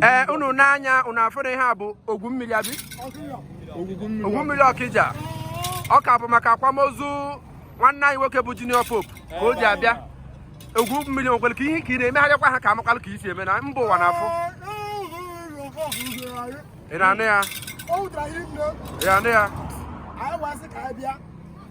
ee unu n'anya unu afụ na ihe a bụ ogwu mmiri abi ogwu mmiri ọkija ọ ka bụ maka akwamozu nwanne anyị nwoke bụ junior pope ka o ji abịa ogwu mmiri nwekwere ka ihe ka ị na-emegharịkwa ha ka a makwalụ ka i si eme na mba ụwa na-afụ ị na-anụ ya ị na-anụ ya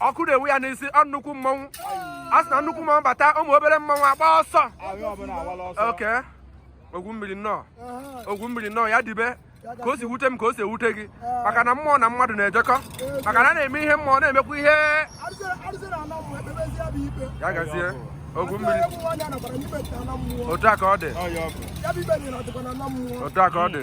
ọkụ na-enwu ya n'isi ọ nnukwu mmọnwụ a sị na nnukwu mmọnwụ bata ụmụ obere mmọnwụ agba ọsọ oke ogwu mmiri nnọọ ogwu mmiri nnọọ ya dibe ka o si wute m ka o si ewute gị maka na mmụọ na mmadụ na-ejekọ maka na a na-eme ihe mmụọ na-emekwa ihe ya gazie ogwu mmiri otu a ka ọ dị otu a ka ọ dị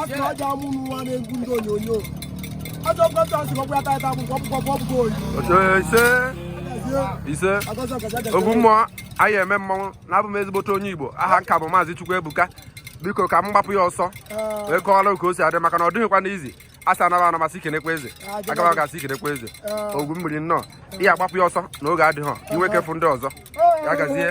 asị na aja amụ nwa na-egwu ndị onyonyo ajọ kọta asị ọkwa ata ata akwụkwọ ọkpụkọ bụ ọbụgo oyi ise ise ogwu mmụọ anyị eme mmọnwụ na abụ m ezigbote onye igbo aha m ka bụ maazị chukwuebuka biko ka m gbapụ ya ọsọ wee kọọrọ ka o si adị maka na ọ dịghịkwa easy a sị a naba ana a sị i kenekwa eze a gaba aga a sị i kenekwa eze ogwu mmiri nnọọ ị ya-agbapụ ya ọsọ na oge adịghọ i nwee ike fụ ndị ọzọ ya gazie